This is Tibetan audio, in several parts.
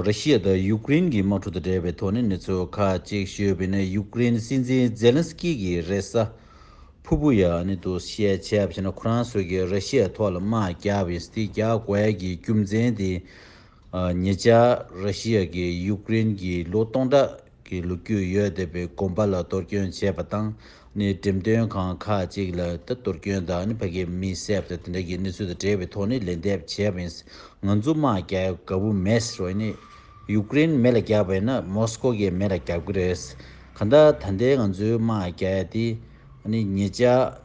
ར་ཤི་ཡ་དང་ཡུག་ཀེ་རེན་གྱི་དམག་འཁྲུག་དང་འབྲེལ་བའི་དོགས་གནས་ནུས་ཚོད་ཁག་ཅིག་ཤོད་པའི་ནང་ཡུག་ཀེ་རེན་སྲིད་འཛིན་ཛེ་ལན་སི་ཀི་གིས་རེས་གཟའ་ཕུར་བུ་ཡ་ནི་དུ་བཤད་ཆ་བྱས་ན་ཁོ་རང་སོགས་ཀྱིས་ར་ཤི་ཡ་ཐོག་ལ་དམག་རྒྱག་པའི་སི་ཐི་རྒྱག་དགོས་ཀྱི་རྒྱུ་མཚན་དེ་ཉེ་ཆར་ར་ཤི་ཡ་གིས་ཡུག་ཀེ་རེན་གྱི་ལོ་སྟོང་ཕྲག་གི་ལུགས་རྒྱུས་ཡོད་བདེ་བའི་གོམ་པ་ལ་གཏོར་སྐྱོན་བྱས་པ་དང་ནི་འགྲེམས་སྟོན་ཁང་ཁག་ཅིག་ལ་ད་གཏོར་སྐྱོན་དང་ནི་ཕ་གི་མི་བསད་དང་དེ་འདྲ་གི་གནས་ཚུལ་དང་འབྲེལ་བའི་ཐོག་ནི་ལན་འདེབས་བྱས་པ་ཡིན་ང་ཚོ་དམག་རྒྱལ་དགའ་བོ་མེད་རེད་ནི་ཡུག་ཀེ་རེན་མི་ལ་རྒྱབ་པ་ཡིན་ན་མོ་སི་ཀོ་གི་མི་ལ་རྒྱབ་གི་རེད་གང་ལྟར་ད་ལྟའི་ང་ཚོའི་དམག་རྒྱལ་དེ་ནི་ངེད་ཅག།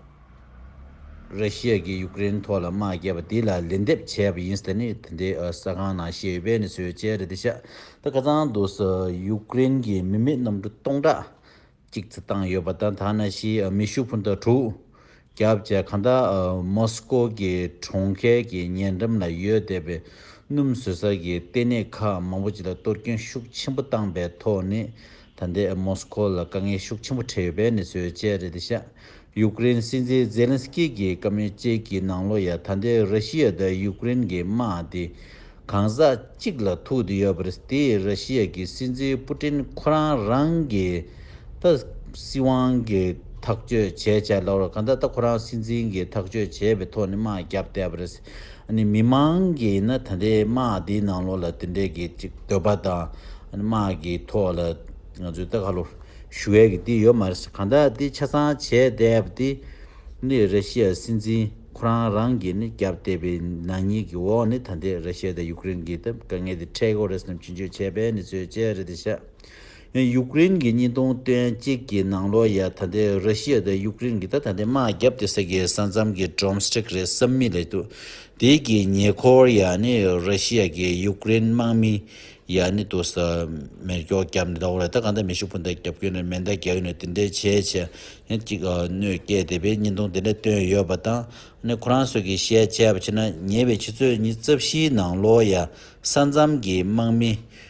རི་ཤི་ཡཱ་གིས་ཡུག་ཀེ་རེན་ཐོག་ལ་དམག་རྒྱག་པ་དེ་ལ་ལན་འདེབས་བྱས་པ་ཡིན་ཟེར་ནས་དེ་འདྲའི་ས་ཁང་ནང་བཤད་ཡོད་པས་ནི་སོའི་ཅལ་རེད་འདི་ཤ་ད་ཁ་ཚང་འདུག་ཟེར་ཡུག་ཀེ་རེན་གྱི་མི་མེད་གནམ་གྲུ་སྟོང་ཕྲག་གཅིག་རྩི་བཏང་ཡོད་པ་དང་ད་ནཱ་ཤི་ཡཱ་མི་ཤུ་ཕུན་ཐང་དྲུག་བརྒྱ་བཅས་གང་དག་མོ་སི་ཀོ་གི་གྲོང་ཁྱེར་གྱི་ཉེ་འགྲམ་ལ་ཡོད་བསྡད་པའི་སྣུམ་བཟོས་ས་ཀྱི་ལྟེ་གནས་ཁག་མང་པོ་ཅིག་ལ་གཏོར་སྐྱོན་ཤུགས་ཆེན་པོ་བཏང་པའི་ཐོག་ནས། ད་ལྟའི་མོ་སི་ཁོ་ལ་དཀའ་ངལ་ཤུགས་ཆེན་པོ་འཕྲད་ཡོད་པའི་གནས་ཚུལ་བཅས་རེད་དེ། ཡུཀ་རེན་སྲིད་འཛིན་ཛེ་ལན་སི་ཀི་གིས་བཀའ་མོལ་བཅས་ཀྱི་ནང་ལོ་ཡ་ད་ལྟའི་ར་ཤི་ཡ་དང་ཡུཀ་རེན་གྱི་དམག་དེ་གང་ཟག་གཅིག་ལ་ཐུག་བསྡད་ཡོད་པ་རེད། དེས་ར་ཤི་ཡ་གི་སྲིད་འཛིན་པུ་ཏིན་ཁོ་རང་རང་གི་ད་སྲིད་དབང་གི་ཐག་གཅོད་བྱས་བྱས་ལ་བར་གང་ད་ལྟ་ཁོ་རང་སྲིད་འཛིན་གྱི་ཐག་གཅོད་བྱས་པའི་ཐོག་ནས་དམག་བརྒྱབ་བསྡད་པ་རེད། ཨ་མི་མང་གིས་ནི་ད་ལྟའི་དམག་དེའི་ནང་ལོགས་ལ་དེ་འདྲའི་གི་ཅིག་འདོད་པ་དང་དམག་གི་ཐོག་ལ་ང་ཚོའི་ལྟ་ག་ལོ་ཞུ་བའི་གི་དེ་ཡོད་མ་རེད་གང་ལྟར་དེ་ཆ་ཚང་བྱས་བསྡད་པ་དེ་ནི་ར་ཤི་ཡ་སྲིད་འཛིན་ཁོ་རང་རང་གིས་ནི་བརྒྱབ་བསྡད་པའི་ནག་ཉེས་གི་འོག་ནི་ད་ལྟའི་ར་ཤི་ཡ་དང་ཡུཀ་རེན་གི་དེ་དཀའ་ངལ་དེ་འཕྲད་གོ་རེད་བསམ་ཕྱིན་ཆོས་འཆད་པའི་ནི་ཚོའི་དཔྱད་རེད་དེ་ཤ་ཡུཀ་རེན་གྱི་གཉིས་སྟོང་དོན་གཅིག་གི་ནང་ལོ་ཡ་ད་ལྟའི་ར་ཤི་ཡ་དང་ཡུཀ་རེན་གྱི་ད་ད་ལྟའི་དམག་རྒྱབ་དེ་ས་གའི་ས་མཚམས་ཀྱི་འབྲོམ་སྟྲེག་རེད་བསམ་མི་ལེགས་འདུག་དེའི་གི་ཉེ་འཁོར་ཡ་ནི་ར་ཤི་ཡ་གི་ཡུཀ་རེན་དམག་མི་ཡ་ནི་དུ་ས་མེར་སྒྱོགས་རྒྱབ་ནས་ད་འོ་རེ་ད་གང་ད་མེ་ཤུགས་བུན་ད་རྒྱབ་གྱོན་ནས་མེ་མདའ་རྒྱག་གྱོན་ནས་དེ་འདྲའི་བྱས་བྱས་ཡ་གཅིག་གནོད་སྐྱེལ་དེ་བས་གཉིས་སྟོང་དེ་འདྲ་བཏོན་ཡོད་པ་དང་ནི་ཁོ་རང་སོ་གི་བཤད་བྱས་པ་ཕྱིར་ན་ཉེ་བའི་ཕྱི་ཚོད་གཉིས་རྩ་བཞིའི་ནང་ལོ་ཡ་ས་མཚམས་ཀྱི་དམག་མི་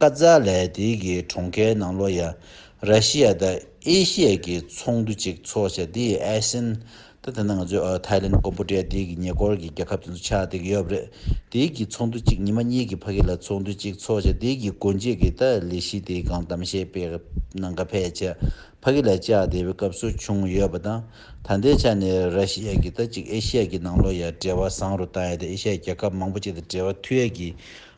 ཀ་ཛ་ལའི་དེ་གའི་གྲོང་ཁྱེར་ནང་ལོ་ཡ་ར་ཤི་ཡ་དང་ཨེ་ཤི་ཡའི་གི་ཚོགས་འདུ་ཅིག་འཚོགས་ཆ་དེ་ཡི་ཨེ་སེན་དང་དེ་ནང་ང་ཚོའི་ཐའི་ལེན་ཀོམ་པོ་ཏྲེ་དེ་གི་ཉེ་འཁོར་གི་རྒྱལ་ཁབ་དེ་ཚོ་ཆགས་དེ་གི་ཡོད་རེད་དེ་གི་ཚོགས་འདུ་ཅིག་ཉི་མ་གཉིས་གི་ཕ་གི་ལ་ཚོགས་འདུ་ཅིག་འཚོགས་ཆ་དེ་གི་དགོན་ཆས་གི་ད་ལི་གཞི་དེ་གང་གཏམ་བཤད་པའི་ནང་ཀ་ཕེ་ཆ་ཕ་གི་ལ་བཅག་དེ་བའི་སྐབས་སུ་བྱུང་ཡོད་པ་དང་ད་ལྟའི་ཆ་ནས་ར་ཤི་ཡ་གི་ད་ཅིག་ཨེ་ཤི་ཡ་གི་ནང་ལོ་ཡ་འབྲེལ་བ་བཟང་རུ་བཏང་ཡོད་དེ་ཨེ་ཤི་ཡ་རྒྱལ་ཁབ་མང་པོ་ཅིག་དང་འབྲེལ་བ་མཐུད་ཡས་གི་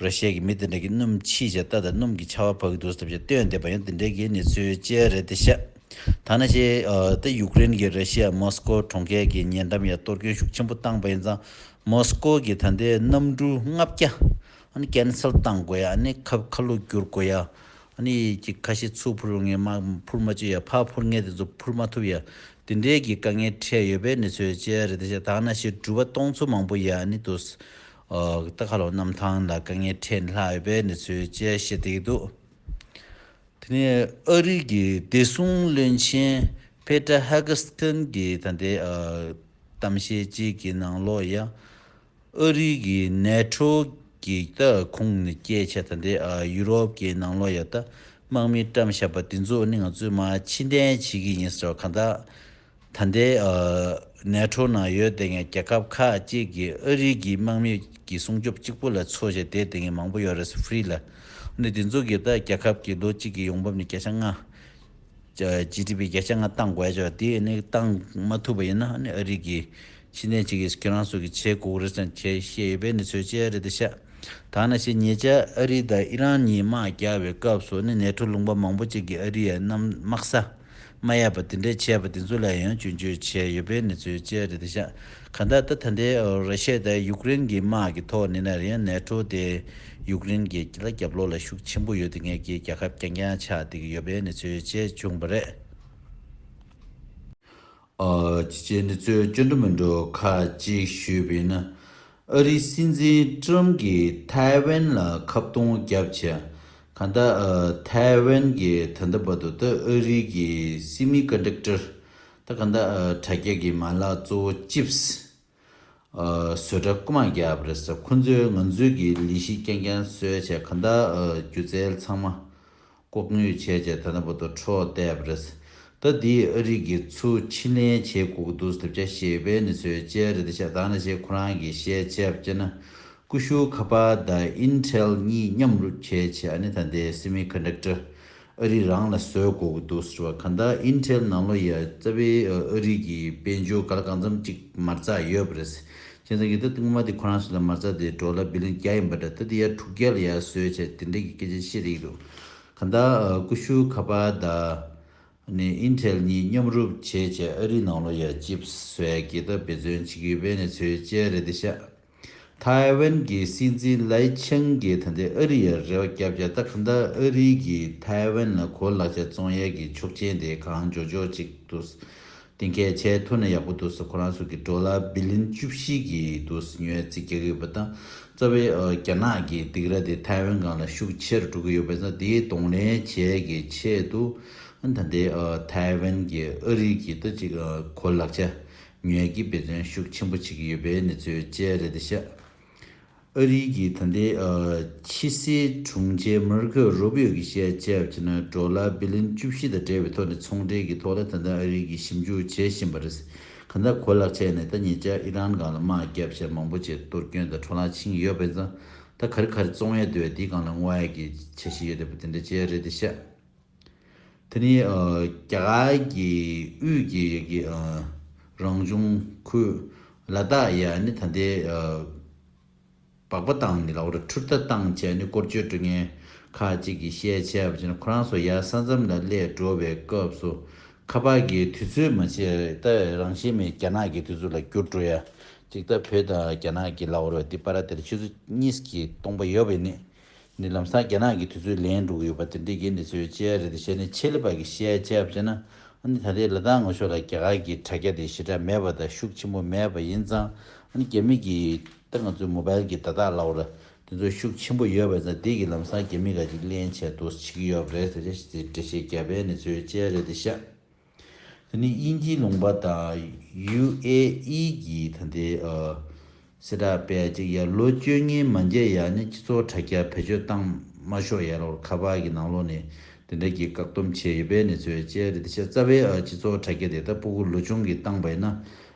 ར་ཤས་ཀྱི་མི་དེ་འདྲ་གིས་སྣུམ་ཕྱིས་བྱས་རྟ་དང་སྣུམ་གྱི་ཆ་བ་བབས་ཀྱི་འདུག་ཟེར་བ་ཞིག་བཏོན་འདེབས་པ་ཡང་འདི་འདྲའི་གི་ནི་ཚུལ་དཔྱད་རེད་དེ་ཤ་ཐ་ན་ཤའི་ཏེ་ཡུཀ་རེན་གྱི་ར་ཤི་ཡ་མོ་སི་ཀོ་གྲོང་ཁྱེར་གྱི་ཉེ་འགྲམ་ཡང་གཏོར་སྐྱོན་ཤུགས་ཆེན་པོ་བཏང་པ་ཡིན་ཙང་མོ་སི་ཀོ་གི་ད་ལྟའི་གནམ་གྲུ་ལྔ་བརྒྱ་ཨ་ནི་ཀན་སེལ་བཏང་དགོས་ཡ་ཨ་ནི་ཁ་ཁ་ལུག་བསྒྱུར་དགོས་ཡ་ཨ་ནི་གྱི་ཁ་ཤི་ཚུགས་འཕུར་ངེས་མ་འཕུར་མ་བཅོས་ཡ་ཕ་འཕུར་ངེས་དེ་ཚོ་འཕུར་མ་ཐུབ་ཡ་འདི་འདྲའི་གི་དཀའ་ངལ་འཕྲད་ཡོད་པའི་ནི་ཚུལ་དཔྱད་རེད་དེ་ཤ་ཐ་ན་ཤི་འགྲུལ་བ་གཏོང་ཚུལ་མང་པོ་ཡ་ཨ་ནི་དུ། རྟ་ཁ་ལོ་གནམ་ཐང་ལ་དཀའ་ངལ་འཕྲད་སླ་འོས་པའི་གནས་ཚུལ་བཅས་བཤད་བསྡད་ཀྱི་འདུག་དེ་ནས་ཨ་རིག་གི་བདེ་སྲུང་བློན་ཆེན Peter Hagestyn གྱི་ད་ལྟའི་གཏམ་བཤད་ཅིག་གི་ནང་ལོ་ཡ་ཨ་རིག་གི NATO གི་རྟ་ཁུང་ནས་བསྐྱེལ་བྱས་ད་ལྟའི་ཡུ་རོབ་ཀྱི་ནང་ལོ་ཡ་རྟ་དམག་མི་བཀྲམ་བཞག་པ་དེ་ཚོ་ནི་ང་ཚོས་མ་ཕྱི་འདྲེན་བྱེད་ཀྱི་ཡིན་ཟེར་བ་གང་དག་ད་ལྟའི་གནས་འཕྲོ་ན་ཡོད་དེ་ངས་རྒྱལ་ཁབ་ཁ་ཅིག་གི་ཨ་རིག་གི་དམག་མི་གི་སྲུང་སྐྱོབ་གཅིག་པོ་ལ་འཚོ་བཞེས་དེ་དེ་ངས་མང་པོ་ཡོད་རེད་སུ་ཧྥུ་རི་ལ་ནི་དེ་ཚོ་གི་ད་རྒྱལ་ཁབ་གི་ལོ་གཅིག་གི་ཡོང་འབབ་ནི་བརྒྱ་ཆ་ལྔ། ཇི་ཏི་པི་བརྒྱ་ཆ་ལྔ་བཏང་དགོས་ཆོག་དེ་ནི་བཏང་མ་ཐུབ་པ་ཡིན་ན་ནི་ཨ་རིག་གི་ཤི་ནས་ཅིག་གིས་ཁྱེད་རང་ཚོ་གི་ཆེ་དགོག་རེད་ཟེར་ཁྱེད་ཤེས་ཡོད་པས་ནི་ཚོས་ཅི་ཡ་རེད་དེ་ཤ་ཐང་ན་ཤེས་ཉེ་ཆ་ཨ་རི་དང་ཨི་རན་གཉིས་དམག་རྒྱག་པའི་སྐབས་སུ་ནི་ནས་འཕྲོ་ལུང་པ་མང་པོ་ཅིག་གི་ཨ་རི་ཡ་རྣམས་དམག་ས་མ་ཡལ་བ་དེ་འདྲས་བྱས་པ་དེ་ཚོ་ལ་ཡང་སྐྱོན་བརྗོད་བྱས་ཡོད་པའི་གནས་ཚུལ་བཅས་རེད་དེ་ཤ་ཁ་ད་ལྟ་ད་ལྟའི་ར་ཤའི་ད་ཡུཀ་རེན་གྱི་དམག་གི་ཐོག་ནས་ནར་ཡང་ནས་འཕྲོ་དེ་ཡུཀ་རེན་གྱི་ལ་རྒྱབ་ལོག་ལ་ཤུགས་ཆེན་པོ་ཡོད་དེ་ངས་ཀྱིས་རྒྱ་ཁབ་རྐྱང་རྐྱང་ཆགས་བསྡད་ཀྱི་ཡོད་པའི་གནས་ཚུལ་བཅས་བྱུང་བ་རེད། ཅི་བྱས་ནས་ཚོས་སྐྱོན་འགྲོ་མི་འགྲོ་ཁག་གཅིག་ཞུས་པས་ན། ཨ་རི་སྲིད་འཛིན་ཀྲུམ་གྱིས་ཐའེ་ཝན་ལ་ཁ་བརྡུང་རྒྱབ་བྱས། ག་ད་ཐའེ་ཝན་གྱི་ད་ལྟ་བར་དུ་ད་ཨ་རི་གྱི་སྲིད་མི་ཀ་འདྲེག་ཀྲར་ད་ག་ད་དྲ་རྒྱ་གྱི་མ་ལག་གཙོ་བོ་ཅིབས་བཟོ་གྲ་རྐུ་མ་རྒྱབ་རེད་ས་ཁོ་ཚོས་ང་ཚོས་གི་ལི་ཤི་ཀྱང་ཀྱང་གསོལ་བྱས་ག་ད་སྒྱུ་རྩལ་ཚང་མ་ལྐོག་ནུས་བྱས་བྱས་ད་ནི་བོ་ཏོ་ཁྲོ་བལྟས་པ་རེད། ད་འདི་ཨ་རིག་གི་ཚུ་ཕྱི་ལན་བྱེད་ཁུག་འདུག་ཟེར་བྱ་ཞེས་ཡོད་པའི་ནི་ཚོའི་དཔྱད་རེད་ཤག་དང་ན་ཞེ་ཁོ་རང་གི་ཞེས་བྱས་པ་བྱས་ན་ཀུ་ཤུ་ཁ་པ་ད་ཨིན་ཐྲལ་གཉིས་མཉམ་རུབ་བྱས་བྱས་ཨ་ནི་ད་འདི་སི་མི་ཁ་འདྲ་ཀྲི་ཨ་རིག་རང་ལ་བཟོས་དགོས་ཀྱི་འདུག་ཟེར་བ་གང་ད་ཨིན་ཐྲལ་ནང་ལོ་ཡ་རྩ་བའི་ཨ་རིག་གི་དཔལ་འབྱོར་ག་ལ་གང་འཚམ་ཅིག་མར་ཚགས་ཡོད་པ་རེད། ཁྱེད་རང་གིས་ད་ལྟ་ངོ་མ་དེ་ཁོ་རང་ཞིག་ལ་མ་རྩ་དེ་འགྲོ་ལ་བི་ལན་བརྒྱ་ཡིན་པ་འདྲ་ད་ལྟ་ཡར་དྲུག་བརྒྱ་ལ་ཡར་བཟོས་བྱས་དེ་འདྲ་གི་སྐད་ཆ་བཤད་རིགས་འདུག་གང་ལྟར་ཀུ་ཤུ་ཁ་པར་དང། ནི Intel གཉིས་མཉམ་རུབ་བྱས་བྱས་ཨ་རི་ནང་ལོ་ཡར Chips བཟོས་གི་ད་འབད་བརྩོན་བྱེད་ཀྱི་ཡོད་པས་ནས་ཚོའི་དཔྱད་རེད་དེ་ཤ། ཐའེ་ཝན་གྱི་སྲིད་འཛིན་ལའི་ཆང་གིས་ད་འདི་ཨ་རི་ཡར་རེ་བ་བརྒྱ་བརྒྱ་ད་གང་ལྟར་ཨ་རི་གིས་ཐའེ་ཝན་ལ་གོ་ལག་ཆ་བཙོང་ཡས་གི་ཆོག་ཆེན་དེ་གང་འཇོག་འཇོག་ཅིག་ཏུ་དེ་སྐད་བྱས་ཐུག་ན་ཡག་པོ་འདུག་ས་ཁོ་རང་ཚོ་གི་འགྲོ་ལ་བི་ལིན་བཅུ་བཞི་གི་འདུག་ས་ཉོས་ཚེ་རྒྱག་གི་ཡོད་པ་དང་རྩ་བའི་རྒྱ་ནག་གི་སྡིག་ར་དེ་ཐའེ་ཝན་གང་ལ་ཤུགས་ཆེར་འགྲོ་གི་ཡོད་པས་ན་དེ་གདོང་ལེན་བྱས་གི་ཆེད་དུ་ད་ལྟའི་ཐའེ་ཝན་གྱི་ཨ་རི་གི་ད་ཅིག་གོ་ལག་ཆ་ཉོས་ཀྱི་འབད་བརྩོན་ཤུགས་ཆེན་པོ་བྱེད་ཀྱི་ཡོད་པའི་གནས་ཚུལ་བཅས་རེད་ཤག་ཨ་རིའི་གི་ད་ལྟའི་ཕྱི་སྲིད་དྲུང་ཆེ་མར་ཁོ་རུ་བྷི་ཨོ་གི་བཤད་གཅད་བྱས་ན་འགྲོ་ལ་བྷི་ལིན་བཅུ་བཞི་དང་འབྲེལ་བའི་ཐོག་ནས་ཚོང་འབྲེལ་གི་ཐོག་ལ་ད་ལྟ་ཨ་རིའི་གི་ཞིབ་འཇུག་བྱེད་བཞིན་པ་རེད། ག་ད་གོ་ལག་ཆད་ནས་ད་ཉེ་ཆར་ཨི་རན་སྒང་ལ་དམག་རྒྱབ་བྱས་མང་པོ་བྱས་གཏོར་སྐྱོན་དང་འཕྲོ་ལག་ཕྱིན་ཡོད་པས་ད་ག་རི་ག་རི་བཙོང་ཡ་འདོད་དེ་སྒང་ལ་དངོས་ཡ་གི་བྱས་ཤི་ཡོད་དེ་པ་དེ་འདྲ་བྱས་རེད་དེ་བཤད། དེ་ནི་རྒྱ་གར་གྱི་དབུས་ཀྱི་ཡི་གེ་རང་བྱུང་ཁུལ་ལ་དྭགས་ཡ་ནི་ད་ལྟའི་བག་པ་དང་ནི་ལ་ཝར་ཁྲུར་ཐ་དང་བཅས་ནི་སྐོར་བརྗོད་སྤྲོ་ངན་ཁ་ཅིག་གིས་བཤད་བྱས་པ་ཅི་ན་ཁོ་རང་སོ་ཡ་ས་མཚམས་ལ་སླད་འགྲོ་བའི་སྐབས་སུ་ཁ་པར་གྱི་དུས་ཚོད་མ་བྱས་རྟ་རང་བཞིན་མེད་རྒྱ་ནག་གི་དུས་ཚོད་ལ་བསྒྱུར་འགྲོ་ཡ་ཅིག་ད་བོད་དང་རྒྱ་ནག་གི་ལ་ཝར་བ་འདི་པ་ར་དེར་ཆུ་ཚོད་གཉིས་ཀྱི་སྟོང་པ་ཡོད་པས་ནི། ནི་ལམ་སང་རྒྱ་ནག་གི་དུས་ཚོད་ལེན་འགྲོ་གི་ཡོད་པ་དེ་འདྲའི་རྒྱན་དེ་ཚོའི་དཔྱད་ཡ་རེད་དེ་བཤད་ནས་ཆེད་ལས་པ་གི་བཤད་ཡ་དཔྱད་བྱས་ན་ཨ་ནི་ད་ལྟའི་ལ་དྭགས་ངོ་ཤོག་ལ་རྒྱ་གར་གི་དྲ་རྒྱ་དེ་ཞེ་དྲག་མེད་པ་དང་ཤུགས་ཆེན་པོ་མེད་པ་ཡིན་ཙང་ཨ་ནི་རྒྱ་མི་གི་ད་ང་ཚོའི་མོ་པལ་གི་བརྡ་དག་ལའོ་ལ་དེ་ཚོ་ཤུགས་ཆེན་པོ་ཡོད་པ་ཡིན་ཙང་དེ་གི་ལམ་སང་རྒྱ་མི་ག་ཅིག་གླེན་བྱས་འདུག་བྱེད་གི་ཡོད་པ་རེད་ཟེར་ནས་བཤད་དེ་འདྲ་བཤད་རྒྱ་བལ་ནི་ཚོའི་དཔྱད་ཡ་རེད་དེ་བཤད། ད་ནི་དབྱིན་ཇིའི་ལུང་པ་དང UAE ཀྱི་ད་ལྟའི་སྲིད་དྲག་པས་ཅིག་ཡར་ལོ་བཅོ་ལྔའི་མ་མཇལ་ཡར་ནི་སྤྱི་ཚོགས་དྲ་རྒྱ་བེད་སྤྱོད་བཏང་མ་ཤོག་ཡར་ལོར་ཁ་པར་གྱི་ནང་ལོག་ནས་དེ་འདྲ་གྱི་བཀག་སྡོམ་བྱས་ཡོད་པའི་ནི་ཚོད་དཔྱད་རེད་ད་ཆ་རྩ་བའི་སྤྱི་ཚོགས་དྲ་རྒྱ་དེ་ད་སྤུ་གུ་ལོ་ཆུང་གིས་བཏང་པ་ཡིན་ན་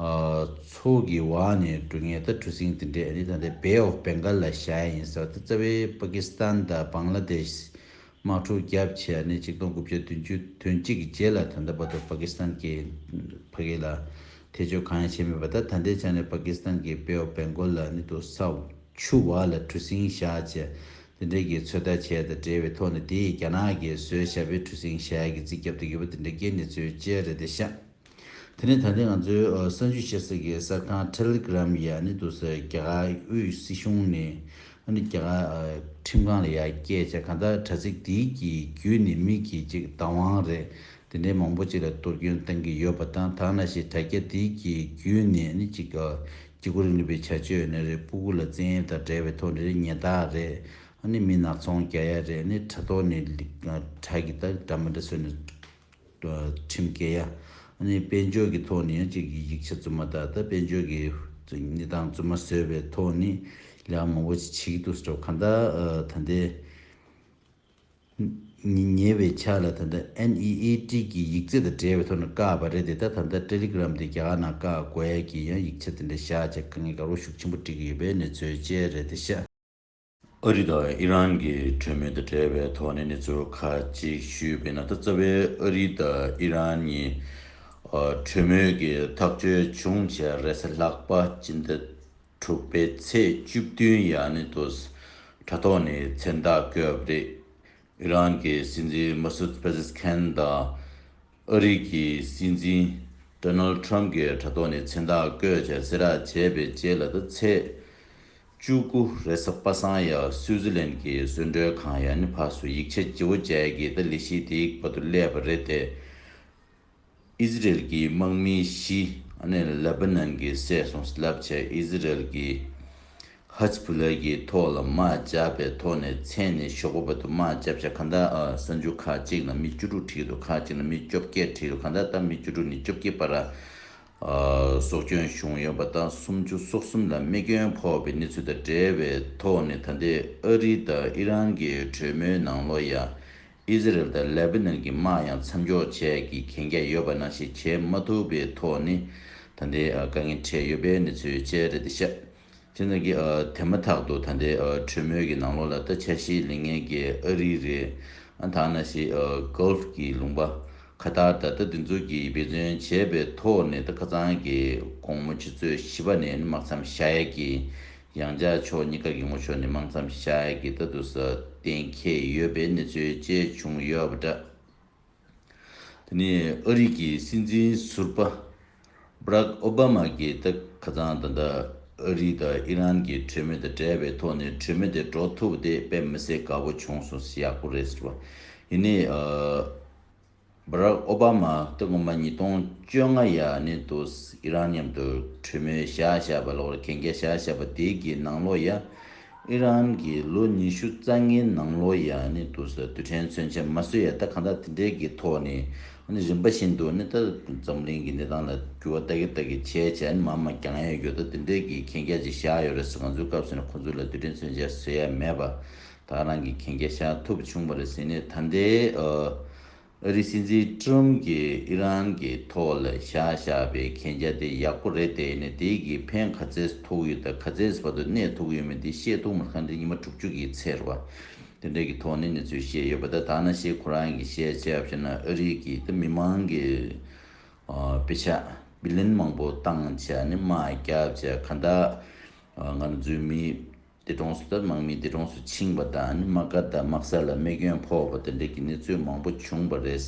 ཚོགས་ཀྱི་བ་ནས་འབྲུ་ངན་ད་གྲུ་གཟིངས་དེ་འདྲས་འདི་ད་ལྟའི Bay of Bengal ལ་བཞའ་ཡ་ཡིན་ཟེར་བ་དེ་རྩ་བའི་པ་ཀི་སི་ཐན་དང་བང་ལ་དེ་ཤི་དམག་འཁྲུག་བརྒྱབ་ཆེ་ཡ་ནི་གཅིག་སྟོང་དགུ་བརྒྱ་བདུན་ཅུ་དོན་གཅིག་གི་རྗེས་ལ་ད་ལྟ་བ་དོ་པ་ཀི་སི་ཐན་གི་བྷ་གི་ལ་ཐེ་བྱུས་གང་ཡང་བྱས་མེད་པ་ད་ད་ལྟའི་ཆ་ནས་པ་ཀི་སི་ཐན་གི Bay of Bengal ལ་ནི་དུ་ས་ཆུ་བ་ལ་གྲུ་གཟིངས་བཞའ་ཆེ་དེ་འདྲས་ཀྱི་ཚོད་ལྟ་བྱས་དང་འབྲེལ་བའི་ཐོག་ནས་དེ་ཡི་རྒྱ་ནག་གི་བཟོས་བཞའ་པའི་གྲུ་གཟིངས་བཞའ་ཡ་གི་རྩིས་རྒྱབ་ཏུ་ཡོད་པ་དེ་འདྲས་ཀྱི་ནི་ཚོའི་དཔྱད་རེད་དེ་ཤ་དེ་ནས་ད་ཐེངས་ང་ཚོའི་གསར་འཇུས་བྱེད་སའི་གསར་ཁང Telegram ཡ་ནི་འདུག་སའི་རྒྱ་གར་དབུས་སྲིད་གཞུང་ནས་ཨ་ནི་རྒྱ་གར་ཁྲིམས་ཁང་ལ་ཡ་སྐྱེལ་བྱས་གང་ལྟར་དྲ་ཚིགས་དེའི་གི་བརྒྱུད་ནས་མི་གི་ཅིག་བདག་དབང་རེད་དེ་འདྲའི་མང་པོ་ཅིག་ལ་གཏོར་སྐྱོན་བཏང་གི་ཡོད་པ་དང་དག་ན་ཞེས་དྲ་རྒྱ་དེའི་གི་བརྒྱུད་ནས་ནི་ཅིག་བརྒྱུད་ཁུར་རིང་ལུས་པའི་བྱ་སྤྱོད་ནི་རེད་སྤུ་གུ་ལ་བཙན་གཡེམ་དང་བྲལ་བའི་ཐོག་ནས་རེད་ཉེ་རྟགས་རེད་ཨ་ནི་མི་ནག་ཚོང་རྒྱ་ཡ་རེད་ཨ་ནི་དྲ་ཐོག་ནས་དྲ་གི་དག་དྲ་མི་འདྲ་བཟོས་ནས། ཁྲིམས་འགལ་ཡ། ནི་དཔལ་འབྱོར་གྱི་ཐོག་ནས་ཡང་གཅིག་གིས་ཡིག་ཆ་བཙུན་མ་དག་དང་དཔལ་འབྱོར་གྱི་གནས་སྟངས་བཙུན་མ་བཟོས་པའི་ཐོག་ནས་ལས་མང་པོ་ཞིག་བྱེད་ཀྱི་འདུག་སྤྲོ་གང་དག་ད་ལྟའི་ཉེ་བའི་ཆ་ལ་ད་ལྟ NEAT གྱི་ཡིག་རྩིས་དང་འབྲེལ་བའི་ཐོག་ནས་བཀག་པ་རེད་དེ་དག་ད་ལྟ Telegram དེ་རྒྱ་གར་ནང་བཀག་བཀོད་ཀྱིས་ཡང་ཡིག་ཆ་དེ་འདྲ་བཞག་ཅེས་དཀའ་ངལ་དགའ་བོ་ཤུགས་ཆེན་པོ་སྒྲིག་གི་ཡོད་པའི་གནས་ཚུལ་བཅས་རེད་དེ་ཤ། ཨ་རི་དང་ཨི་རན་གྱི་གྲོས་མོལ་དང་འབྲེལ་བའི་ཐོག་ནས་གནས་ཚུལ་ཁག་ཅིག་ཞུས་པའི་ནང་ད་རྩ་བའི་ཨ་རི་དང་ཨི་རན་གཉིས་གྲོས་མོལ་གྱི་ཐག་གཅོད་བྱུང་བྱས་རེས་གཟའ་ལྷག་པ་སྤྱི་ཟླ་དྲུག་པའི་ཚེས་བཅུ་བདུན་ཡ་ནི་དུ་དྲ་ཐོག་ནས་མཚན་རྟགས་བཀོད་པ་རེད། ཨི་རན་གྱི་སྲིད་འཛིན་མཱ་སུད་པེ་ཟེས་ཁན་དང་ཨ་རི་གྱི་སྲིད་འཛིན་ཏོ་ནལ་ཏྲམ་གྱི་དྲ་ཐོག་ནས་མཚན་རྟགས་བཀོད་བྱ་བསེ་རག་བྱས་པའི་རྗེས་ལ་ད་ཚེས་བཅུ་དགུ་རེས་གཟའ་པ་སངས་ཡ་སུའུ་ཛི་ལན་གྱི་བཟོས་འགྲོལ་ཁང་ཡ་ནི་བྷ་སུ་ཡིག་ཆ་ལྗི་བོ་ཅལ་གྱིས་ད་ལི་ཤིའི་དེའི་བར་དུ་སླེབས་པ་རེད་དེ། ཨི་ཟི་རེལ་གྱི་དམག་མི་བཞི་ནི་ལེ་བྷ་ནན་གྱི་སྲས་སུ་བསླབ་ཆེད་ཨི་ཟི་རེལ་གྱི་ཧཱེཛ་བྷུ་ལཱ་ཡི་ཐོག་ལ་དམག་བརྒྱབ་པའི་ཐོག་ནས་མཚན་ནི་ཞོགས་པ་བར་དུ་དམག་བརྒྱབ་ཆ་ག་འདྲ་གསར་འགྱུར་ཁག་ཅིག་ན་མི་བཅུ་དྲུག་ཁྲིད་འདུག་ཁག་ཅིག་ན་མི་བཅོ་བརྒྱད་ཁྲིད་འདུག་ག་འདྲ་ལྟར་མི་བཅུ་དྲུག་ནས་བཅོ་བརྒྱད་བར་སྲོག་སྐྱོན་བྱུང་ཡོད་པ་དང་སུམ་ཅུ་སོ་གསུམ་ལ་རྨས་སྐྱོན་ཕོག་པའི་གནས་ཚུལ་དང་འབྲེལ་བའི་ཐོག་ནས་ད་ལྟའི་ཨ་རི་དང་ཨི་རན་གྱི་གྲོས་མོལ་ནང་ལོ་ཡ་ཨི་ཟི་རལ་དང་ལེ་བྷི་ནོན་གྱི་དམག་ཡང་མཚམས་འཇོག་བྱས་ཀྱི་གན་རྒྱ་ཡོད་པ་ནང་བཞིན་བྱེད་མ་ཐུབ་པའི་ཐོག་ནས་ད་ལྟའི་དཀའ་ངལ་འཕྲད་ཡོད་པའི་གནས་ཚུལ་བཅས་རེད་དེ། ཤ་ཁྱི་ཚང་གིས་དེ་མ་ཐག་ཏུ་ད་ལྟའི་གྲོས་མོལ་གྱི་ནང་ལོགས་ལ་ད་ཆ་ཤི་ལིང་ངན་གྱི་ཨ་རི་རེད་ཨང་ཐ་ན་ཤི Gulf གྱི་ལུང་པ་ཁ་ཐར་ད་ལྟ་དེ་ཚོ་གིས་འབད་བརྩོན་བྱས་པའི་ཐོག་ནས་ད་ཁ་ཚང་གི་དགོང་མོ་ཆུ་ཚོད་བཞི་པ་ནས་ནི་དམག་མཚམས་བཞག་ཡས་ཀྱི་ཡང་བྱ་ཕྱོགས་གཉིས་ཀ་གི་ངོ་ཕྱོགས་ནི་མང་ཙམ་ཞིག་བྱ་ཡ་གི་ལྟ་འདུག་ས་གཏན་འཁེལ་ཡོད་པའི་གནས་ཚུལ་བཅས་བྱུང་ཡོད་པ་འདྲ། དེ་ནི་ཨ་རིག་གི་སྲིད་འཛིན་ཟུར་པ Brack Obama གི་ད་ག་ཙང་ད་ལྟ་ཨ་རི་དང་ཨི་རན་གི་གྲོས་མོལ་དང་བྲལ་བའི་ཐོག་ནས་གྲོས་མོལ་དེ་འགྲོ་ཐུབ་པ་དེ་དཔེ་མི་སྲིད་དགའ་བོ་བྱུང་སོང་ཡག་པོ་རེད་ཟེར་བ་ཡིན་ཨ། Barack Obama སྟེ་སྔོན་མ་ཉིས་སྟོང་བཅོ་ལྔ་ཡ་ནི་དུས་ཨི་རན་མཉམ་དུ་གྲོས་མོལ་བཞག་བཞག་པ་ལོར་གན་རྒྱ་བཞག་བཞག་པ་དེ་གི་ནང་ལོ་ཡ་ཨི་རན་གི་ལོ་ཉི་ཤུ་རྩ་ལྔའི་ནང་ལོ་ཡ་ནི་དུས་ལ་དུས་དྲན་མཚོན་ཆ་མ་བཟོས་ཡ་ད་གང་དག་དེ་འདྲའི་གི་ཐོག་ནི་ཨ་ནི་རིམ་པ་བཞིན་དུ་ནི་ད་འཛམ་གླིང་གི་གནས་སྟངས་ལ་འགྱུར་བ་ད་གི་ད་གི་བྱས་བྱས་ནི་མ་མ་འགྱངས་ཡ་ཡོད་ད་དེ་འདྲའི་གི་གན་རྒྱ་ཅིག་བཞག་ཡོད་རེད་ཟེར་ང་ཚོའི་སྐབས་སུ་ནི་ཁོང་ཚོའི་ལ་དུས་དྲན་མཚོན་ཆ་བཟོས་ཡ་མེད་པ་ད་རང་གི་གན་རྒྱ་བཞག་ཐུབ་བྱུང་བ་རེད་ཟེར་ནས་ད་ལྟའི་ཨ་རིའི་སྲིད་འཛིན Trump གྱིས་ཨི་རན་གྱི་ཐོག་ལ་བཞག་བཞག་པའི་གན་རྒྱ་དེ་ཡག་པོ་རེད་དེ་ནས་དེ་གིས་ཕན་ག་ཚད་ཐོགས་ཡོད་དང་ག་ཚད་བར་དུ་གནས་ཐོགས་ཡོད་མེད་དེ་བཤད་ཐུབ་མ་ཁ་འདྲི་ཉི་མ་དྲུག་ཅུ་གི་ཚེར་བ་དེ་འདྲ་གི་ཐོག་ནས་གནས་ཚུལ་བཤད་ཡོད་པ་ད་ད་ན་ཤེས་ཁོ་རང་གིས་བཤད་བྱས་བ་ཕྱིར་ན་ཨ་རིའི་གི་ད་མི་མང་གི་དཔེ་ཆ Billion མང་པོ་བཏང་བྱས་ནས་དམག་རྒྱག་བྱས་ག་ད་ང་རང་ཚོའི་མི། འདས་གྲོངས་སུ་དར་དམག་མིས་འདས་གྲོངས་སུ་ཕྱིན་པ་དང་དམག་སྒར་དང་དམག་ས་ལ་རྨས་སྐྱོན་ཕོག་པ་དེ་འདྲ་གྱི་གནས་ཚུལ་མང་པོ་བྱུང་བ་རེད།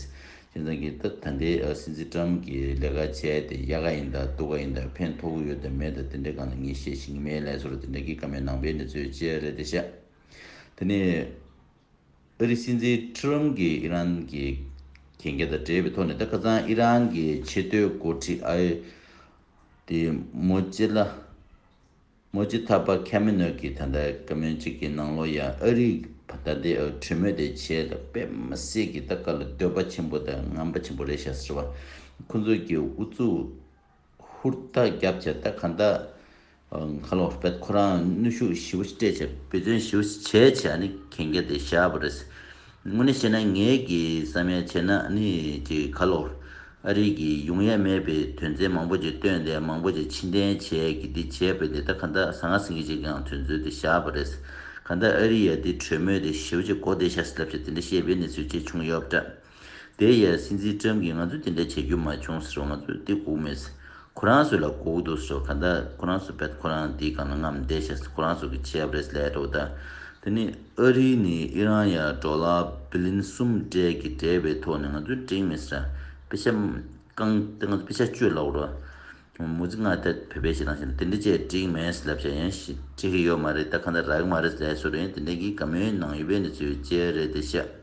ཁྱེད་ཚང་གིས་སྟབས་ད་འདི་སྲིད་འཛིན་ཀྲམ་གྱིས་ལས་ཀ་བྱས་ཏེ་ཡག་ག་ཡིན་དང་སྡུག་ག་ཡིན་དང་ཕན་ཐོགས་ཡོད་དང་མེད་དང་དེ་འདྲའི་གང་ལ་ངས་བཤད་ཤེས་ཀྱི་མེད་ལན་སོར་དེ་འདྲ་གྱི་ཀ་མའི་ནང་པའི་གནས་ཚུལ་བཅས་རེད་དེ་བཤད། དེ་ནས་ཨ་རིའི་སྲིད་འཛིན་ཀྲམ་གྱིས་ཨི་རན་གྱི་གན་རྒྱ་དང་འབྲེལ་བའི་ཐོག་ནས་ད་ཁ་སང་ཨི་རན་གྱི་ཆེས་མཐོའི་འགོ་ཁྲིད་ཨ་ཡེ་ཏི་མོ་ཅེ་ལ། སྔོན་ཅི་ཐབས་པ་ཁ་མི་ནུས་ཀྱིས་ད་ལྟ་ཀ་མོན་གཅིག་གི་ནང་ལོ་ཡང་ཨ་རིའི་བ་ད་ལྟའི་ཨོ་དྲི་མོ་དེ་བྱས་ལ་དཔེ་མི་སྲིད་ཀྱི་ད་ག་ལ་འདོད་པ་ཆེན་པོ་དང་རྔམ་པ་ཆེན་པོ་རེད་ཤག་ཟེར་བ་ཁོ་ཚོ་གི་ཨུ་ཚུགས་ཧུར་ཐག་རྒྱབ་བྱས་ད་ག་ད་ག་ལོག་པད་ཁོ་རང་ནུས་ཤུགས་ཞི་བ་ཞིག་སྤྲད་བྱས་བེད་བརྩོན་ཞི་བ་ཞིག་བྱས་བྱས་ཨ་ནི་གན་རྒྱ་དེ་བཞག་པ་རེད། དངོས་གནས་བཤད་ན་ངེད་ཀྱིས་བསམ་ཡས་བྱས་ན་ནི་ཀྱི་ཁ་ལོ། ཨ་རིག་གིས་ཡོང་ཡས་མེད་པའི་དོན་ཚན་མང་པོ་ཅིག་བཏོན་ཏེ་མང་པོ་ཅིག་ཕྱི་འཐེན་བྱས་ཀྱི་འདི་བྱས་པས་འདི་ལྟ་ག་འདྲ་ཟ་ང་ཟིང་གི་ཅིག་ཀྱང་དུས་མཛོད་དེ་བཞག་པ་རེད། ག་འདྲ་ཨ་རི་ཡས་འདི་གྲོས་མོལ་དེ་ཞེའུ་ཅིག་གོ་བདེ་ཤག་སི་ལབ་ཅིག་དེ་འདྲ་བཤད་པའི་གནས་ཚུལ་ཅིག་བྱུང་ཡོད་པ་འདྲ། དེ་ཡས་སྲིད་འཛིན་ཀྲམ་གྱིས་ང་ཚོས་དེ་འདྲ་བྱེད་རྒྱུ་མ་བྱུང་ཟེར་བ་ང་ཚོས་འདི་སྒུག་མེད། ཁོ་རང་ཚོས་ལ་གོ་གི་འདུག་ཟོ་ག་ད་ཁོ་རང་ཚོས་བད་ཁོ་རང་འདི་གང་ལ་ངམ་བསྡད་བྱས་ཟེར་ཁོ་རང་ཚོ་གི་བྱས་པ་རེད་ལས་འགྲོ་གི་ད་དེ་ནི་ཨ་རི་ནི་ཨི་རན་ཡ་རྡོ་ལ་བི་ལིན་གསུམ་སྦྲེལ་གི་འབྲེལ་བའི་ཐོག་ནས་ང་ཚོའི་འགྲིག་མི་སྲིད་དཔེ་ཆ་བཀང་སྟེ་ང་ཚོ་དཔེ་ཆ་སྤྱོད་ལ་འོར་བ་མུ་ཙི་སྔགས་ཐད་བོད་པའི་ཞེ་སྡང་ཞེ་འདི་འདྲི་བྱས་འགྲིག་མེད་སྲིད་ལབ་བྱས་ཡང་ཞིག་འགྲིག་གི་ཡོད་མ་རེད་ད་གང་ད་རག་གི་མ་རེད་ལས་སོ་རེད་དེ་འདྲ་གི་ག་མོའི་ནང་ཡོད་པའི་འདི་ཚོའི་བཅས་རེད་དེ་བཤད།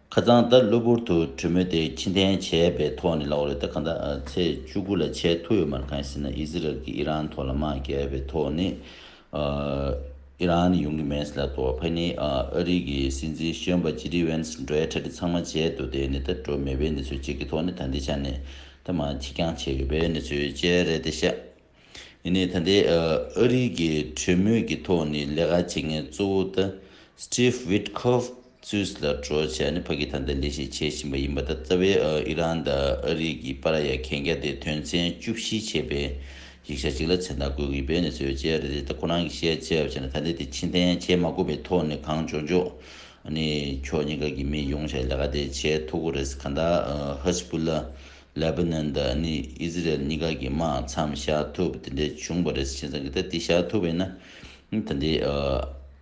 ཁ་རྩང་ད་གློ་བུར་དུ་གྲོས་མོལ་དེ་ཕྱི་འཐེན་བྱས་པའི་ཐོག་ནས་ལོག་རེད་ད་ག་འདྲ་ཚེས་བཅུ་དགུ་ལ་བྱས་ཐུབ་ཡོད་མ་རེད་གང་ཡིན་ཟེར་ན་ཨི་ཟི་རལ་གྱིས་ཨི་རན་ཐོག་ལ་དམག་རྒྱག་པའི་ཐོག་ནས་ཨི་རན་ནི་ཡོང་གི་མེད་ཟེར་ལ་དོ་བྷེ་ནི་ཨ་རིག་གི་སྲིད་འཛིན་གཞོན་པ་ཇི་ཏི་བྷེན་སི་འདྲའི་གྲ་སྒྲིག་ཚང་མ་བྱས་འདུག་དེ་ནི་ད་གྲོས་མེད་པའི་གནས་ཚུལ་གཅིག་གི་ཐོག་ནས་ད་འདི་ཆ་ནས་ད་མ་ཁྱི་རྐྱང་བྱས་ཡོད་པའི་གནས་ཚུལ་བཅས་རེད་དེ་ཤ་ཡིན་ནའི་ད་ལྟའི་ཨ་རིའི་གི་གྲོས་མོལ་གི་ཐོག་ནི་ལས་ཀ་བྱེད་མཁན་གཙོ་བོ་ད Steve Witkoff ཚུས་ལ་གྲོ་བྱས་ནས་ཕ་གི་ཐང་དང་ལས་ཤིག་བྱེད་བཞིན་པ་ཡིན་པ་ད་རྩ་བའི་ཨི་རན་ད་ཨ་རིའི་གི་པ་ར་ཡ་གན་རྒྱ་དེ་དོན་ཚན་བཅུ་བཞི་ཆེ་པའི་ཡིག་ཆ་ཅིག་ལ་མཚན་རྟགས་འགོད་གི་ཡིན་པའི་གནས་ཚུལ་ཡོད་ཅེས་རེད་ད་ཁོ་རང་གི་བཤད་བྱས་བྱས་ནས་ད་ལྟའི་དེ་ཕྱིན་ཐན་བྱས་མ་དགོས་པའི་ཐོག་ནས་གང་འཇོག་འཇོག་ཨ་ནི་ཁྱོ་གཉིས་ཀ་གི་མི་ཡོང་བྱས་ལས་ཀ་དེ་བྱས་ཐུག་གོ་རེད་ག་ད Hezbollah ལེ་བྷ་ནོན་དང་ནི་ཨི་ཟི་རེལ་གཉིས་ཀ་གི་དམག་མཚམས་བཞག་ཐུབ་དེ་འདྲས་བྱུང་བ་རེད་ཅེས་བསམ་གི་ད་དེ་བཞག་ཐུབ་བས་ན་ད་འདི་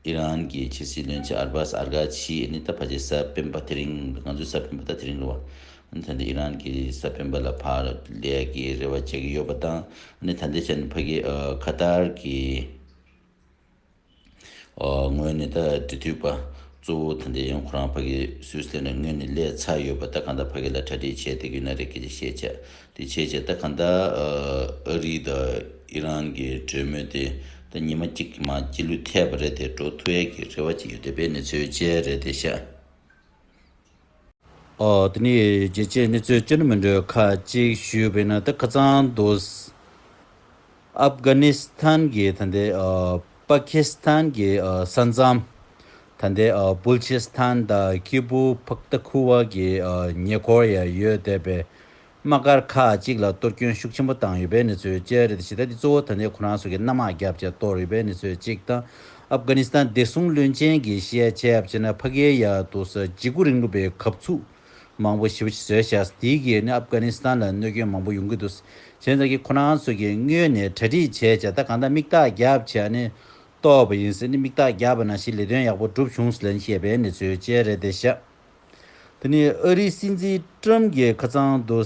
ཨི་རན་གྱི་ཕྱི་སྲིད་བློན་ཆེན་ཨར་བྷཱས་ཨར་གྷ་ཆི་ནི་ད་ཕ་ཆེ་ས་སྤེན་པ་དེ་རིང་ང་ཚོའི་ས་སྤེན་པ་ད་དེ་རིང་རེད་བ་ད་འདི་ཨི་རན་གྱི་ས་སྤེན་པ་ལ་ཕར་ལས་ཀྱི་རེ་བ་བྱེད་ཀྱི་ཡོད་པ་དང་ནི་ད་འདི་ཕྱིར་ནི་ཕ་གི་ཁ་ཏར་གྱི། དངོས་ནས་ད་འབྲི་དུས་པ་གཙོ་བོ་ད་འདྲེ་ཡང་ཁོ་རང་ཕ་གི་སུས་སྟེ་ནས་དངོས་ནས་ལས་ཚ་ཡོད་པ་ད་གང་ད་ཕ་གི་ལ་གྲ་སྒྲིག་བྱས་ཏེ་གུ་ན་རེ་གི་ཅི་བྱས་བྱས་ཏེ་བྱས་བྱས་ད་གང་ད་ཨ་རི་ད་ཨི་རན་གི་གྲོས་མོལ་དེ་ད་ཉི་མ་གཅིག་གི་མ་སྐྱིད་ལུས་ཐེབས་པ་རེད་དེ་འགྲོ་ཐུ་ཡས་ཀི་རེ་བ་ཅིག་ཡོད་དེ་པའི་ནི་ཚོའི་གཅེས་རེད་དེ་ཤ། འོ། དེ་ནི་རྒྱལ་སྤྱིའི་གནས་ཚུལ་ཅུང་མི་འདྲ་བ་ཁག་ཅིག་ཞུས་པས་ན་ད་ཁ་ཚང་འདུག། ཨབ་གྷ་ནི་སི་ཐན་གྱི་ད་ལྟའི་པ་ཁི་སི་ཐན་གྱི་ས་མཚམས། ད་ལྟའི་སྦུལ་ཆི་སི་ཐན་དང་ཀི་པུའུ་བྷག་ཏཱ་ཁུ་ཝ་གྱི་ཉེ་འཁོར་ཡང་ཡོད་བསྡད་པས་དམག་སྒར་ཁག་ཅིག་ལ་གཏོར་སྐྱོན་ཤུགས་ཆེན་པོ་བཏང་ཡོད་པའི་གནས་ཚུལ་བཅས་རེད་དེ་ཇི་ལྟ་དེ་གཙོ་བོ་ད་ལྟའི་ཁོ་རང་ཚོ་གི་གནམ་དམག་རྒྱ་བསྐྱེད་གཏོར་ཡོད་པའི་གནས་ཚུལ་གཅིག་དང། ཨབ་གྷ་ནི་སི་ཐན་བདེ་སྲུང་བློན་ཆེན་གྱི་བཤད་ཆས་བྱས་ནས་ཕ་གིའི་ཡ་ཏུ་སི་འཇིགས་སྐུལ་རིང་ལུགས་པའི་གབ་ཚུགས་མང་པོ་ཞིབ་བཟོས་བྱས་ཟ་དེའི་གིས་ནི་ཨབ་གྷ་ནི་སི་ཐན་ལ་གནོད་སྐྱོན་མང་པོ་ཡོང་གི་འདུག་བྱས་ཙང་གི་ཁོ་རང་ཚོ་གི་སྔོན་ནས་གྲ་སྒྲིག་བྱས་བྱས་ད་གང་ལྟར་མིག་རྟགས་རྒྱ་བྱས་ནས་གཏོར་བ་ཡིན་སྲིད་ནི་མིག་རྟགས་རྒྱ་བ་ན་ཞིག་ལས་དོན་ཡག་པོ་འགྲུབ་བྱུང་ཟླན་བཤད་པའི་གནས་ཚུལ་བཅས་རེད་དེ་ཤ། དེ་ནས་ཨ་རིའི་སྲིད་འཛིན་ཀྲུམ་གྱིས་ཁ་ཚང་དུ་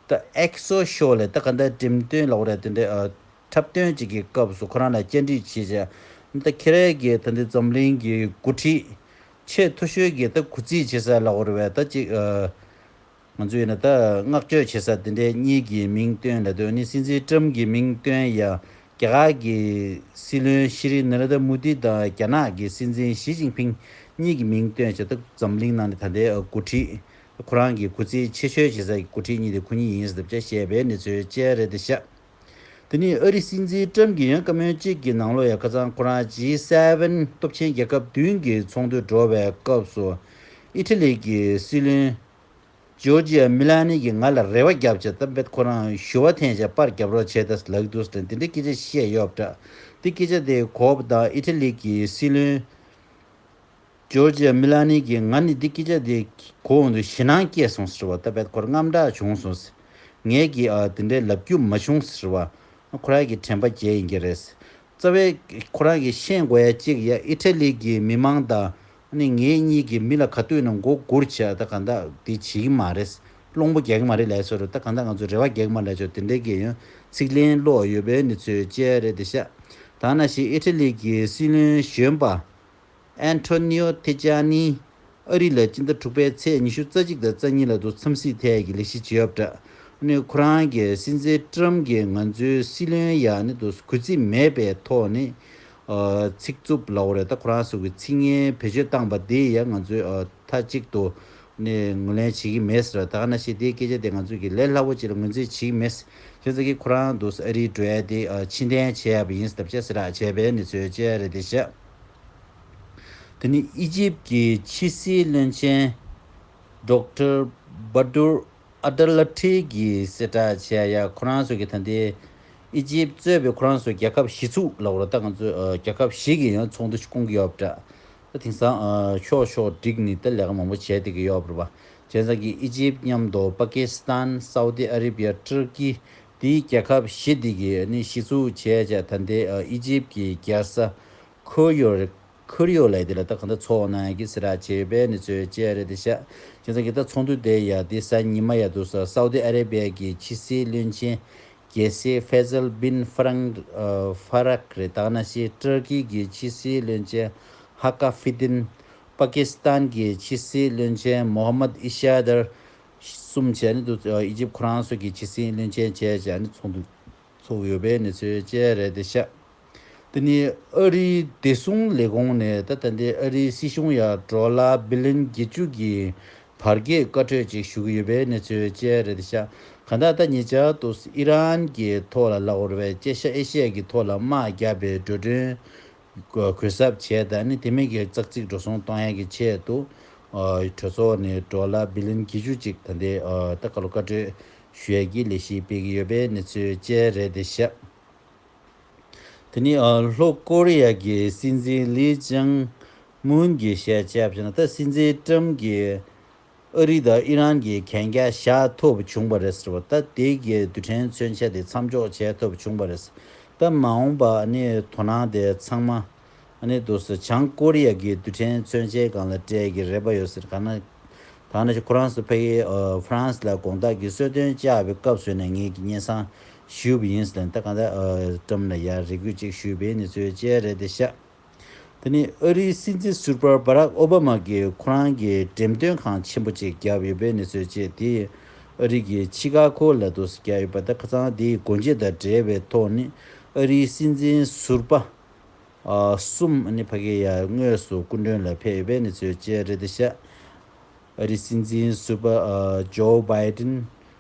ཏཱ་ཨེག་སོ་ཤོ་ལས་ད་ག་འདྲ་འགྲེམ་སྟོན་ལ་འོ་ར་དེ་འདྲའི་འཁྲབ་སྟོན་བྱེད་ཀྱི་སྐབས་སུ་ཁོ་རང་ལ་བཅར་འདྲི་བྱེད་ཆེད་ད་ཁེ་རལ་གྱི་ད་འདི་འཛམ་གླིང་གི་འགོ་ཁྲིད་ཆེས་མཐོ་ཤོས་ཀྱི་ད་གུ་རྩིས་བྱེད་ས་ལ་འོ་ར་བས་ད་ཅིག་ང་ཚོས་ཡིན་ན་ད་བསྔགས་བརྗོད་བྱེད་ས་དེ་འདྲའི་གཉིས་ཀྱི་མིང་བཏོན་ལ་དོན་ནི་སྲིད་འཛིན་ཀྲུམ་གྱི་མིང་བཏོན་ཡང་རྒྱ་གར་གྱི་སྲིད་བློན་ཤི་རི་ན་ར་ད་མུ་དི་དང་རྒྱ་ནག་གི་སྲིད་འཛིན་ཞི་ཅིང་ཕིང་གཉིས་ཀྱི་མིང་བཏོན་བྱས་སྟབས་འཛམ་གླིང་ནང་ནས་ད་ལྟའི་འགོ་ཁྲིད་ཁོ་རང་གི་གུས་བརྩི་ཆེ་ཤོས་བྱེད་ས་ཀྱི་འགོ་ཁྲིད་གཉིས་དེ་ཁོ་གཉིས་ཡིན་ཟེར་ཐབས་བྱ་ཞེས་པའི་གནས་ཚུལ་ཅལ་རེད་དེ་ཤ་དེ་ནི་ཨ་རི་སྲིད་འཛིན་ཀྲུམ་གྱི་ཡང་བཀའ་མོལ་གཅིག་གི་ནང་ལོ་ཡ་ཁ་ཚང་ཁོ་རང G Seven སྟོབས་ཆེན་རྒྱལ་ཁབ་བདུན་གྱི་ཚོགས་འདུ་འགྲོ་བའི་སྐབས་སུ་ཨི་ཐི་ལི་གྱི་སྲིད་བློན་ཇོར་ཇི་ཡ་མི་ལ་ནི་གིས་ང་ལ་རེ་བ་བརྒྱབ་ཅེས་གཏམ་དཔེར་ཁོ་རང་ཞུ་བ་འཐེན་བྱས་པར་རྒྱབ་རོགས་བྱས་ཏེ་ལག་བསྡུར་སྟེ་འདི་འདྲའི་སྐད་ཆ་བཤད་ཡོད་པ་འདྲ། དེ་སྐད་ཆ་དེ་གོ་བ་དང་ཨི་ཐི་ལི་གི་སྲིད་བློན་ཇོར་ཇི་ཡ་མི་ལ་ནི་གིས་ང་ནི་འདི་སྐད་ཆ་དེ་གོ་འོང་དུས་ཞེད་སྣང་སྐྱེས་སོང་ཟེར་བ་ལྟ་བས་ཁོར་རྔམ་སྐྲག་བྱུང་སོང་ཟེར། ངས་ཀྱིས་འདི་འདྲའི་ལབ་རྒྱུ་མ་བྱུང་ཟེར་བ་ཁོ་རང་གི་དྲན་པ་བརྒྱད་ཡིན་གྱི་རེད། རྩ་བའི། ཁོ་རང་གིས་ཤེས་དགོས་ཡ་གཅིག་ཡ་ཨི་ཏྲ་ལི་གི་མི་མང་དང། ནི་ངེད་གཉིས་ཀྱི་མི་ལ་ག་དུས་ན་མགོ་སྒུར་བྱས་ད་གང་དག་དེ་བྱེད་ཀྱི་མ་རེད། བློང་པོ་གེགས་མ་རེད་ལས་ཚོར་ད་གང་དག་ང་ཚོ་རེ་བ་གེགས་མ་ལས་ཆོག་དེ་འདྲའི་གེ་ཡོན་ཚིག་ལན་བློ་ཡོད་པའི་ནི་ཚོའི་དཔྱད་རེད་དེ་ཤ་ད་ན་ཤི་ཨི་ཏྲ་ལི་གི་སྲིད་བློན་གཞོན་པ། Antonio Tajani། ཨ་རི་ལ་སྤྱི་ཟླ་དྲུག་པའི་ཚེས་ཉི་ཤུ་རྩ་གཅིག་དང་རྩ་གཉིས་ལ་དུ་འཚམས་སྲིད་ཐད་ཀྱི་ལས་གཞི་བྱེད་ཡོད་པ་འདྲ། ཁོ་རང་གི་སྲིད་འཛིན Trump གིས་ང་ཚོའི་སྲིད་བློན་ཡག་ནི་དུ་གུས་བརྩི་མེད་པའི་ཐོག་ནས་ཚིག་རྩུབ་ལ་འོ་རེད་ད་ཁོ་རང་སུ་གི་ཚིག་ངན་བེད་སྤྱོད་བཏང་པ་དེ་ཡང་ང་ཚོས་མཐའ་གཅིག་ཏུ་ངོས་ལེན་བྱེད་ཀྱི་མེད་ད་ཁ་ན་ཤེས་དེའི་སྐད་ཆ་དེ་ང་ཚོས་ཀྱི་ལས་སླ་བོ་ཅིག་ལ་ངོས་འཛིན་བྱེད་ཀྱི་མེད་གཞན་ཚང་གིས་ཁོ་རང་དུ་ཨ་རིའི་འགྲོ་ཡ་དེ་ཕྱི་འཐེན་བྱས་ཡ་པ་ཡིན་སྟབས་བྱས་སེ་རག་བྱས་པའི་ནི་ཚོའི་དཔྱད་རེད་དེ་བཞག། དེ་ནི་ཨི་ཇིབ་ཀྱི་ཕྱི་སྲིད་བློན་ཆེན། Doctor Badur Abdelatty། གིས་གསལ་བསྒྲགས་བྱས་ཡ་ཁོ་རང་ཚོ་གི་ད་ལྟའི་ཨི་ཇིབ་གཙོས་པའི་ཁོ་རང་ཚོ་རྒྱལ་ཁབ་བཞི་ཚུགས་ལ་འོ་ད་ང་ཚོས་རྒྱལ་ཁབ་བཞི་གི་ཡང་ཚོགས་འདུ་ཞིག་སྐོང་གི་ཡོད་པ་འདྲ། ད་དེང་སང་ཕྱོགས་ཕྱོགས་བསྒྲིགས་ནས་ད་ལས་ཀ་མང་པོ་བྱས་བསྡད་ཀྱི་ཡོད་པ་རེད། དེང་སང་གི་ཨི་ཇིབ་མཉམ་དུ་པ་ཀི་སི་ཐན། Saudi Arabia། ཏུར་ཀི། དེའི་རྒྱལ་ཁབ་བཞི་དེ་གས་ནི་གཞི་ཚུགས་བྱས་བྱས་ད་ནྡེ་ཨི་ཇིབ་ཀྱི་རྒྱལ་ས་ཁུར་ཡོ་རེད་ཁུར་ཡོ་ལས་དེ་ལ་ད་ག་ནྡེ་ཚོགས་གནང་གི་སི་ར་བྱེད་པའི་ནི་ཚོའི་བཅས་རེད་དེ་ཤ་ཅི་ཚང་གི་ད་ཚོགས་འདུ་དེ་ཡ་དེ་ས་ཉི་མ་ཡ་འདུག་ས་སའུ་དི་ཨ་རེ་བྷེ་ཀྱི་ཕྱི་སྲིད་བློན་ཆེན་རྒྱལ་སྲས་ཧྥེ་ཟལ་བིན་ཧྥ་རང་ཧྥ་རཀ་རེད་ད་གནའ་ཤི་ཏུར་ཀི་གི་ཕྱི་སྲིད་བློན་ཆེན་ཧ་ཀ་ཧྥི་ཏིན་པཱ་ཀི་སི་ཐན་གི་ཕྱི་སྲིད་བློན་ཆེན་མོ་ཧ་མད་ཨི་ཤ་དར་གསུམ་བཅས་ནི་ཨི་ཇིབ་ཁོ་རང་སོགས་ཀྱི་ཕྱི་སྲིད་བློན་ཆེན་བཅས་ཀྱང་ནི་ཚོགས་འདུར་ཚུགས་ཡོད་པའི་གནས་ཚུལ་བཅས་རེད་དེ། ཤ་འདི་ནི་ཨ་རིའི་བདེ་སྲུང་ལས་ཁུངས་ནས་ད་ལྟ་འདི་ཨ་རིའི་སྲིད་གཞུང་ཡར་འབྲོག་ལ་སྦི་ལིན་བརྒྱད་ཅུ་གྱི་བར་བརྒལ་བཀའ་འཁྲོལ་ཅིག་ཞུ་གི་ཡོད་པའི་གནས་ཚུལ་བཅས་རེད་དེ། ཤ་ག་ད་ལྟ་ཉེ་ཆར་དུ་ཨི་རན་གྱི་ཐོག་ལ་ལག་འོར་བས་བཅད་ཤ་ཨེ་ཤེ་ཡ་གི་ཐོག་ལ་དམག་བརྒྱབ་པའི་འགྲོ་གྲོན་གུད་གསབ་བྱས་ད་ནི་དེ་མིན་གྱི་ཙག་ཙིག་འགྲོ་སོང་གཏོང་ཡས་ཀྱི་ཆེད་དུ་གྲོས་ཚོགས་ནས་འགྲོ་ལ་བི་ལིན་གྱི་ཆུ་ཅིག་ད་འདི་ད་ག་ལོ་བཀའ་གྲོས་ཞོལ་གྱི་ལས་གཞི་སྤེལ་གྱི་ཡོད་པའི་གནས་ཚུལ་བཅས་རེད་དེ་ཤག་དེ་ནི་ལྷོ་ཀོ་རི་ཡ་གྱི་སྲིད་འཛིན་ལི་ཅང་མུན་གྱི་བཤད་བྱ་བྱས་ན་ད་སྲིད་འཛིན་ཀྲམ་གྱི་ཨ་རི་དང་ཨི་རན་གྱི་གན་རྒྱ་བཞག་ཐུབ་བྱུང་བ་རེད་ཟེར་བ་ལྟ་དེ་གའི་རྡུལ་ཕྲན་མཚོན་ཆ་དེ་མཚམས་འཇོག་བྱས་ཐུབ་བྱུང་བ་རེད་སྟབས་མ་འོངས་པ་དོ་སྣང་དེ་ཚང་མ་འདུག་ཟེར་བྱང་ཀོ་རི་ཡ་གི་རྡུལ་ཕྲན་མཚོན་ཆའི་སྒང་ལ་སྤྲད་ཀྱི་རེད་པ་ཡོད་ཟེར་ག་ན་ད་ནི་ཁོ་རང་སུ་ཕ་ཡིས་ཧྥ་རན་སི་ལ་དགོངས་དག་གིས་གསོལ་སྟོན་བཅའ་བའི་སྐབས་བཟོས་ནས་ངེད་ཀྱི་སྙན་བཟང་ཞུས་པ་ཡིན་ཟེར་ལན་ད་ག་ད་ཀྲམ་ལ་ཡར་རེ་སྐུལ་ཅིག་ཞུས་པའི་ནི་ཚོའི་དཔྱད་རེད་དེ་ཤག། དེ་ནི་ཨ་རིའི་སྲིད་འཛིན་ཟུར་པ་བྷ་རག་ཨོ་བྷ་མ་གིས་ཁོ་རང་གི་འགྲེམས་སྟོན་ཁང་ཆེན་པོ་གཅིག་བརྒྱབ་ཡོད་པའི་གནས་ཚུལ་བཅས་དེས་ཨ་རི་གི་ཆི་ཀ་གྷོ་ལ་དུག་སེལ་བརྒྱབ་ཡོད་པ་དེ་ཁ་ཚང་དེའི་སྒོ་འབྱེད་དང་འབྲེལ་བའི་ཐོག་ནས་ཨ་རིའི་སྲིད་འཛིན་ཟུར་པ་གསུམ་ནི་བྷ་གེ་ཡ་དངོས་སུ་སྐུ་མགྲོན་ལ་ཕེབས་ཡོད་པའི་གནས་ཚུལ་བཅས་རེད་དེ་བཞག་ཨ་རིའི་སྲིད་འཛིན་ཟུར་པ་ཇོ་བྷའི་ཏིན